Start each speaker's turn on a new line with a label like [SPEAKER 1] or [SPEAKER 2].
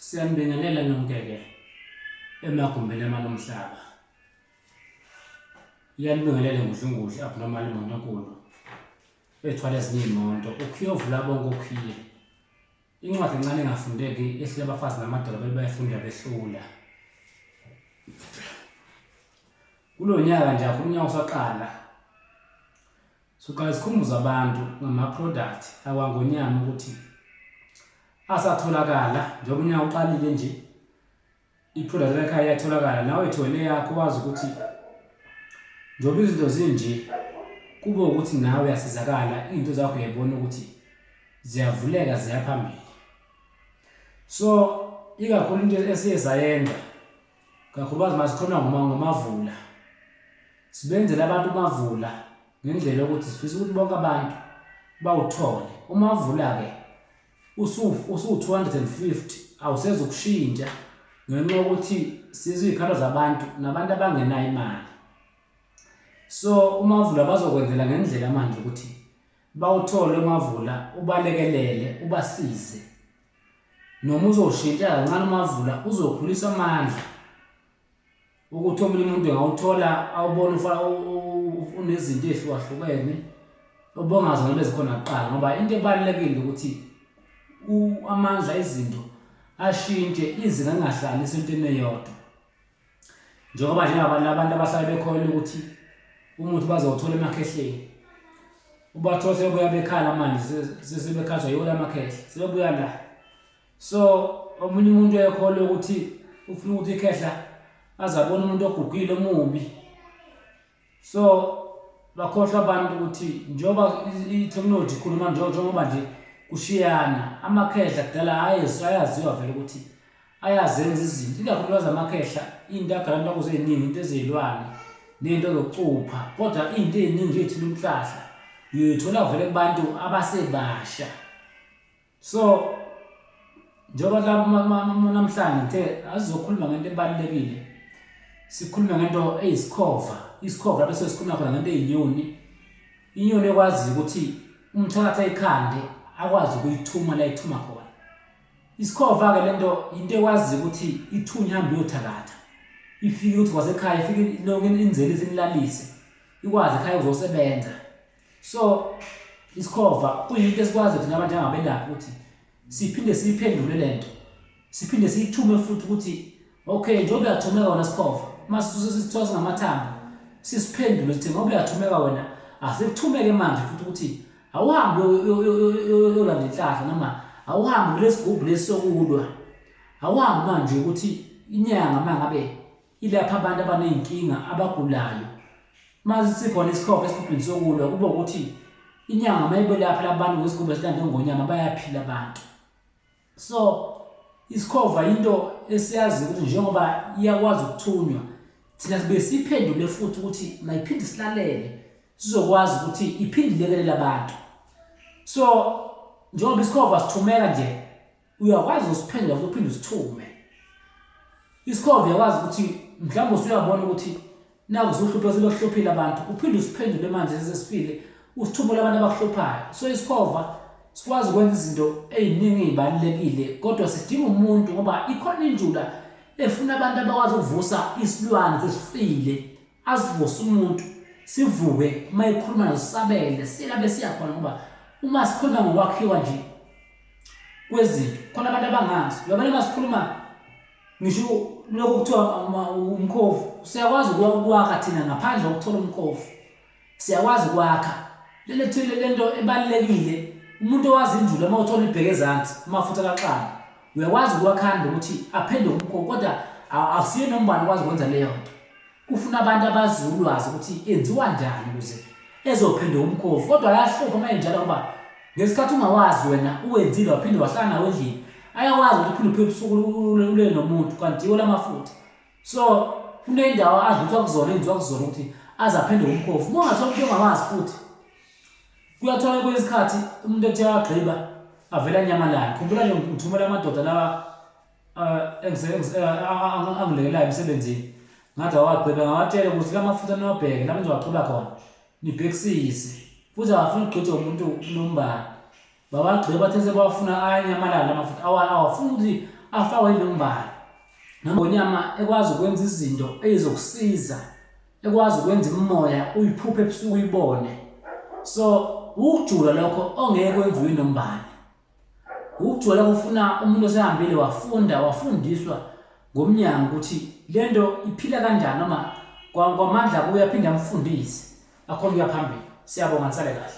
[SPEAKER 1] Siyanibingelela nonke-ke emagumbini amane omhlaba. Iyanibingelela ngudlunguhle abnormal imoto enkulu ethwala ezinye iy'moto ukhuyovula bonke okhiye incwadi encane engafundeki ehlile abafazi namadoda bebayifunda behlula kulo nyaka nje akho umnyaka usaqala Siqale sikhumbuze abantu ngama-product akwaNgonyama ukuthi asatholakala njengoba unyaka uqalile nje i-product lakhaya iyatholakala nawe ethole yakho wazi ukuthi njengoba izinto zinje kube ukuthi nawe uyasizakala izinto zakho uyayibona ukuthi ziyavuleka ziyaphambili so ikakhulu into esiye sayenza kakhulukazi uma sikhona ngomavula sibenzele abantu umavula ngendlela yokuthi sifisa ukuthi bonke abantu bawuthole umavula-ke usu-250 awusezo kushintsha ngenxa yokuthi siziy'khalo zabantu nabantu abangenayo imali so umavula bazokwenzela ngendlela manje ukuthi bawuthole umavula ubalekelele ubasize noma uzoshintsha kancane umavula uzokhulisa amandla ukuthi omunye umuntu engawuthola awubona unezinto ezihlukahlukene obongazona bezikhona kuqala ngoba into ebalulekile ukuthi amandla ezinto ashintshe izinga lingahlali isentweni eyodwa njengoba njengabanye abantu abahlale bekholelwa ukuthi umuthi bazowuthola emakhehleni ubathola sebebuya bekhala manje sesebekhathwa yiwo lamakhehle sebebuya la so omunye umuntu uyekholwa ukuthi ufuna ukuthi ikhehla azabona umuntu ogugile omubi so bakhohlwa abantu ukuthi njengoba i-technology ikhuluma njengoba nje kushiyana amakhehla kudala ayesu ayaziwa vele ukuthi ayazenza izinto ikakhulukazi amakhehla into agalantu akuzo ey'ningi into ezeyilwane ney'nto zokucupha kodwa iy'nto ey'ningi ey'thula umhlahla uyoyithola vele kubantu abasebasha so njengoba namhlanje ngithe azizokhuluma ngento ebalulekile sikhulume ngento eyisikhova isikhova lapho sesikhuluma khona ngento eyinyoni inyoni ekwazi ukuthi umthakathi ayikhande akwazi ukuyithuma la ithuma khona isikhova-ke le nto yinto ekwazi ukuthi ithunya ihambe uyothakatha ifike ukuthi kwasekhaya ifike lonke inzelise inilalise ikwazi ekhaya uzosebenza so isikhova kuyinto esikwazi thina abantu angabelaphi ukuthi siphinde siyiphendule le nto siphinde siyithume futhi ukuthi okay njengoba uyathumeka wona sikhova uma sisithola singamathambo sisiphendule sithi ngoba uyathumeka wena asikuthumeke manje futhi ukuthi awuhambe yolanda inhlahla noma awuhambe kulesi gubhu lesi sokulwa awuhambe manje ukuthi inyanga uma ngabe Ilapha abantu abaney'nkinga abagulayo mase sikhona isikhokho esigubhini sokulwa kube ukuthi inyanga uma ibelapha labantu ngesigubhu esilande ngonyama bayaphila abantu so isikhova yinto esiyazi ukuthi njengoba iyakwazi ukuthunywa thina sibe siphendule futhi ukuthi mayiphinde silalele sizokwazi ukuthi iphinde ilekelele abantu so njengoba isikhova sithumeka nje uyakwazi ukusiphendula futhi uphinde usithume isikhova uyakwazi ukuthi mhlawumbe usuyabona ukuthi naku usuhluphe sebekuhluphile abantu uphinde usiphendule manje sesesifile usithumele abantu abakuhluphayo so isikhova sikwazi ukwenza izinto eziningi ezibalulekile kodwa sidinga umuntu ngoba ikhona injula efuna abantu abakwazi ukuvusa isilwane sesifile asivuse umuntu sivuke uma ekhuluma nazo sisabele siyela besiyakhona ngoba uma sikhuluma ngokwakhiwa nje kwezinto khona abantu abangazi yabona masikhuluma ngisho lokhu kuthiwa umkhovu siyakwazi ukwakha thina ngaphandle kokuthola umkhovu siyakwazi ukwakha lento thile lento ebalekile umuntu owazi injulu uma uthola ibheke ezansi amafutha kaxana uyakwazi ukwakhanda ukuthi aphenduke umkhovu kodwa akusiye nombani okwazi ukwenza leyo nto Kufuna abantu abazi ulwazi ukuthi enziwa njani ukuze ezophendwa umkhovu kodwa ayahlupha uma enjalo ngoba ngesikhathi ungawazi wena uwenzile waphinde wahlala nawo endlini ayakwazi ukuthi uphinde uphe ubusuku ulele nomuntu kanti yiwo lamafutha so kuney'ndawo adluthwa kuzona enziwa kuzona ukuthi aze aphinde umkhovu uma ungathola umuntu ongawazi futhi kuyathola kwesinye isikhathi umuntu ethe wagqiba avela nyamalala khumbula nje ngithumela amadoda lawa angilekelayo emsebenzini ngathi awagqibe ngawatshela ukuthi la mafutha niwabheke la nizowagqiba khona nibhekisise futhi awafuni ugqithe umuntu unombani babagqibe bathe sebawafuna ayanyamalala la mafutha awafuni ukuthi afakwe inombani nangonyama ekwazi ukwenza izinto ezizokusiza ekwazi ukwenza imimoya uyiphuphe ebusuku uyibone so ukujula lokho ongeke kwenziwe nombani Ukujwayela kufuna umuntu osehambile wafunda wafundiswa ngomnyango ukuthi le nto iphila kanjani noma kwamandla kuye aphinde amfundise akhona ukuya phambili. Siyabonga nisale kahle.